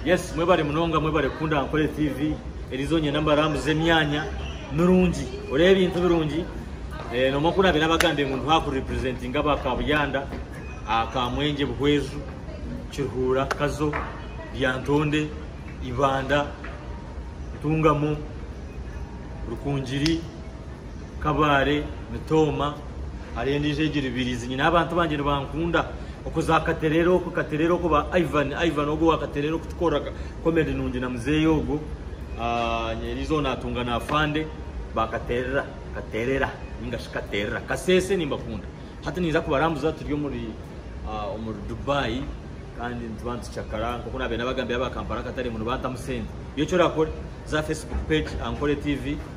Yes mwebare munonga mwebare kukunda Ankole TV Eliza onyenda mbarambuze emyanya mirungi oreeba ebintu birungi eh, nomwe oku nabeire abagambye ngu nduha ku representinga aba Kabuyanda ah, Kamwengye Buhweju Kiruhura Kazo Lyantonde Ibanda Ntungamo Rukungiri Kabaale nitooma hariho endiijo egiri Biriizi nyine abantu bangye nibankunda okwo za Katereera okwo Katereera okwo ba Ivan Ivan ogwo wa Katereera okutukoreraga comedy nungi na muzeeyi ogwo eriizo ogwo natunga na Afande ba Katereera Katereera ninga shi Katereera Kaseese nimbakunda hati ninza kubarambuza turi omuri omuri Dubai kandi nituba nitucakara nk'oku nabaire nabagambira aba Kampala akatare ngu nibantamu sente iwe eki orakore za Facebook page Ankore TV.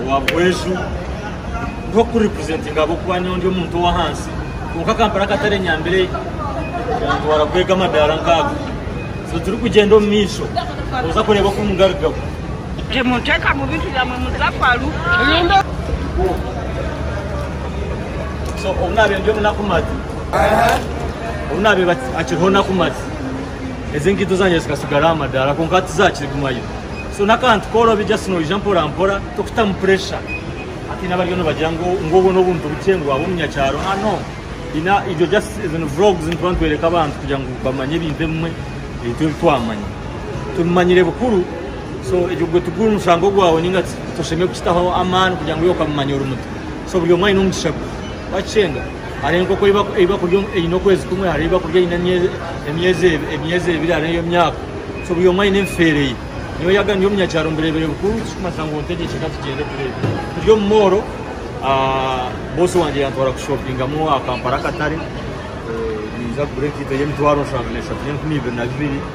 owa Bweju nk'oku representinga ahabw'okuba nyowe ndi omuntu ow'ahansi kwonka Kampala akatare enyambire yantwara kwega amadaara nk'ago so turikugyenda omu maisho kuza kureeba oku mugarukaho. Temuntekamu bintu byamwe muza faru. So obu naabe ndi omu Nakumatt, obu naabe akiriho Nakumatt, ezi enkaito zangye zikasigara aha madaara kwonka tizakigumayo. so n'akantu korobi just noija mpora mpora tokutamu pressure hati haine abariyo nibagira ngu ngu obwo n'obuntu bukye ngu waaba omunyakyaro ha no haine ibyo just ezo ni vlogs nituba nitworeka abantu kugira ngu bamanye ebintu ebimwe ebitwe ebi twamanya tubimanyire bukuru so egyo gwe tuguhe omushango gwawe ninga toshemeriire kukitaho amaani kugira ngu iwe okamumanya ori muto so buri omwe aine omugisha gwe wakikyenga Hariho enkoko ei bakurya eine okwezi kumwe, hariho ei bakurya eine emyezi ebiri hariho ey'emyaka so buri omwe aine ebifeere ye. Nyowe yaaba ndi omunyakyaro mbireebire bikuru ekirikumanyisa ngu nte enkyende ka tugyende tureebe. Turi omu mooro, bosi wangye yantwara kushopingamu aha Kampala akatare, ninza kugura enkaito y'emitwaro eshatu n'enkumi ibiri na bibiri.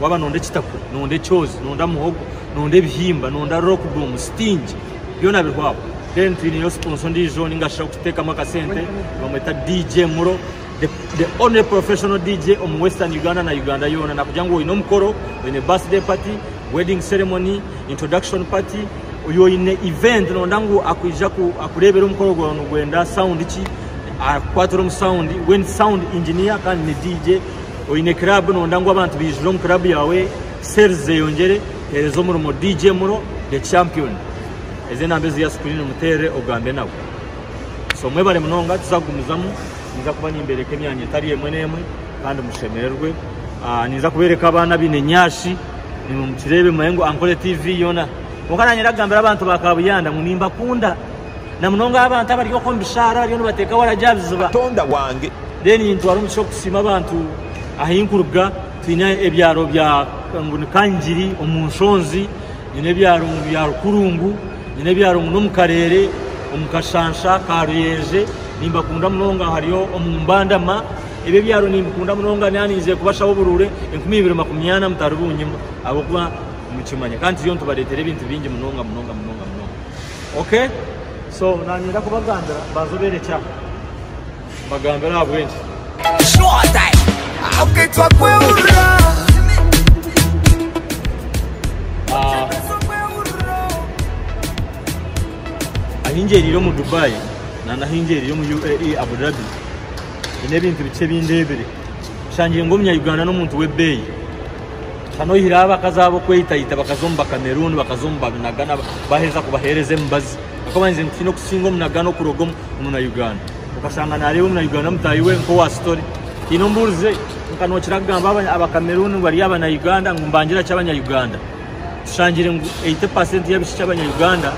waba noyenda ekitapu noyenda ekyozi noyenda muhogo noyenda ebihimba noyenda rockdoom sitingi byona biriho aho then twineyo sponsor ondiijo ningashi okutekamu akasente bamweta DJ Muro the, the only professional DJ omu western Uganda na Uganda yoona nakugira ngu oyine omukoro oyine birthday party wedding ceremony introduction party oyo oyine event noyenda ngu akwija akureebere omukoro gwawe nigwenda sound ki akukwaatire omu sound we ni sound engineer kandi ni DJ Oine club nonda ngu abantu baijure omu club yawe sales zeyongyere hereza omurimo DJ Mulo the champion eze number eziya screen muterere ogambe nawe so mwebare munonga tuza kugumizamu ninza kuba nimbereka emyanya etari emwe nemwe kandi mushemererwe ah, ninza kubereka abaana abine nyashi nimwe mukirebe mumanyengu ankole TV yona konka nanye ndakugambira abantu ba kabuyanda ngu nimbakunda Na munonga aha bantu abari okwo omu bishaara abariyo nibateeka waragi aha biziba. Katonda wange. Then nintwara omugisha okusiima abantu ahi nkuruga. Twine ebyaro bya ngu ni Kangiri omu nshonzi, nyine ebyaro ngu bya Rukurungu, nyine ebyaro ngu n'omu kareere omu kashansha ka Ruyenje. Nimbakunda munonga hariyo omu Mbandama. Ebyo ebyaro nimbikunda munonga naba ninze kubashaho oburuure enkumi ibiri makumi ana mutari bunyima ahabw'okuba nimukimanya kandi turiyo nitubareetera ebintu bingi munonga munonga munonga munonga. Ok so nanyenda kubagambira banza oberekye aha mbagambire ahabwenki. Ahi ngyerire omu Dubai nana ahi ngyerire omu UAE Abu Dhabi nyine ebintu bikye ebi ndebire nshangire ngu omunya Uganda n'omuntu w'ebeeyi. Hanu oyihireho abakazi abo okweyitayita bakaza omu Bakameruni, bakaza omu Banagana baheza kubahereza emibazi. Ahakuba baba nibagira ngu twine kusinga Omunagana okuruga omu Omunayuganda. Okashanga nareeba Omunayuganda mutahi we nk'owa story. Tihaine ombuurize nka nokira kugamba Abakameruni ngu bari Abanayuganda ngu mbangira ki Abanyayuganda? Tushangire ngu 80% y'abishiki Abanyayuganda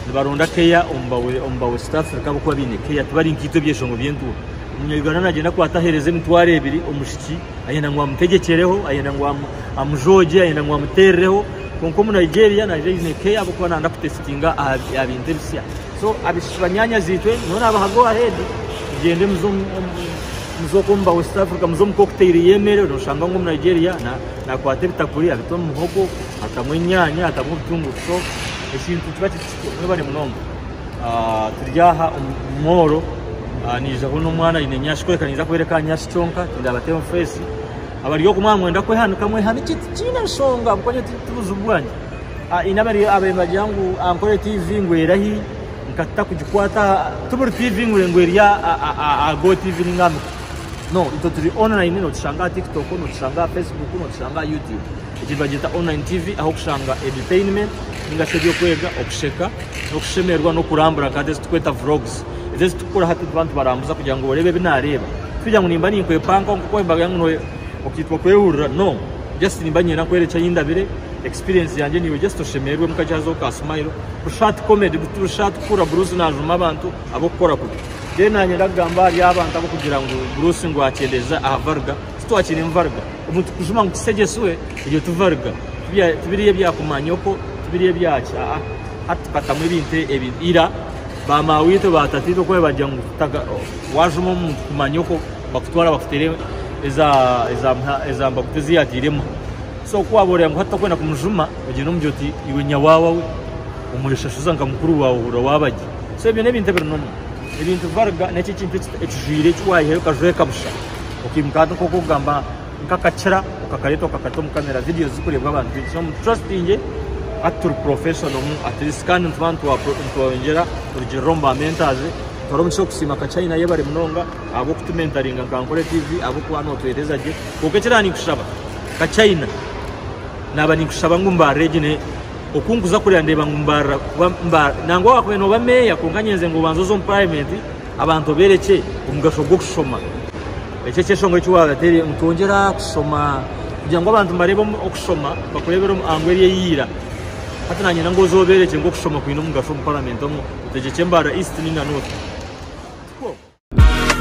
nibaronda care omu ba West Africa ahabw'okuba baine care. Tibari nkaitwe ebyeshongo by'entuura. Omunyayuganda nagyenda akwata ahereza emitwaro ebiri omushiki. Ayenda ngu amutegyekyereho, ayenda ngu amujoogye, ayenda ngu amuteerireho. Kwonka Omunigeria naija aine care ahabw'okuba nayenda kutesitinga aha bintu ebisya. So abaishiki banyaanyazi-itwe, nyowe naabaha go ahead, mugyende muze omu ba West Africa, muze omu cocktail y'emeere, nooshanga ngu Omunigeria naakwata ebitakuri abite omu muhogo, atamu enyaanya, atamu obutunguru. So ekintu kiba kiri kikye. Mwebare munonga turi aha omumoro naijaho n'omwana aine enyashi kworeka naiza kubereka aha nyashi kyonka tindabateho face abari oku mwamwenda kwehanika mwehanike tikiine nshonga ahabwokwaanye tibuzibu bwangye haine ababaire nibagira ngu ankore TV ngu erahi nkatuta kugikwata tiburi TV ngu eri aha GoTv ninga aha no itwe turi online notushanga aha TikTok notushanga aha Facebook notushanga aha YouTube. Egi nibagyeta online TV ahu okushanga edutainment ninga shi ebyokwega, okusheka, nokushemererwa nokurambura nka hati ezi tukweta vlogs. Ezi ezi tukukora hati tuba nitubarambuza kugira ngu orebe ebi nareeba. Tikugira ngu nimba ninkwepankaho nkoku wayimbaga ngu noye okitwa kwehurira no just nimba ninyenda kukwereka eki ayindabire, experience yangye niwe just oshemererwe mu kagyazi ho ka smile. Busha hati comedy busha hati kuhurira Bruce najuma abantu abokukora kubi. Then nanyenda kugamba ahari abantu abokugira ngu Bruce ngu akyendeza aha Varga. Titwakire mvarga omu tukujuma ngu tusegyeswe ebyo tuvarga tibiri ebya kumanyoko tibiri ebyaki aa hati tukatamu ebintu ebi ira ba mawitwe ba tataitwe kuba bagya ngu wajuma omuntu kumanyoko bakutwara bakutere ezambaguta eziyagiremu so kuwaba oreba ngu hati tokwenda kumujuma ogire omugire oti iwe nyawawa we omweshashuza nka mukuru wawe ohurira wabagye so ebyo nebintu ebiri nomu ebintu varga nekyo ekintu ekijwire ekiwayihayo okajweka busha. Okaimuka hati nkoku okugamba nkakakira okakareta okakata omu camera videos zikurebwa abantu bingi so mututrustinge hati turi professional mu at least kandi nituba nitweyongyera kurugirira omu ba mentors nituhara omugisha okusiima ka China yebare munonga ahabw'okutumentaringa nka Nkore TV ahabw'okuba notuhereza gye kwonka ekira ninkushaba ka China naba ninkushaba ngu mbarire gye naye okunkuza kureba ndeba ngu mbarira kuba nangwa wakubaire noba mayor kwonka nyenze ngu obanze oze omu parliament Abantu obeerekye omugasho gw'okushoma. Ekyo ekyeshongoro eki waabateera. Nitwongyera kushoma kugira ngu abantu nibareeba okushoma bakureebere omu ango eri eyiira. Hati nanyenda ngu oze obeerekye ngu okushoma kwine omugasho omu paramenti omu otegyekye Mbaara East nainga North.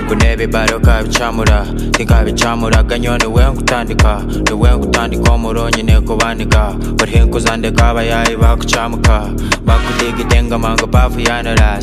Ngu n'ebibare okabicamura Tinkabicamuraga nyowe niwe nkutandika Niwe nkutandika omuro onyine kubanika Burihi nkuza ndeka abayaayi bakucamuka Bakudigita engoma ngu bavuyaanura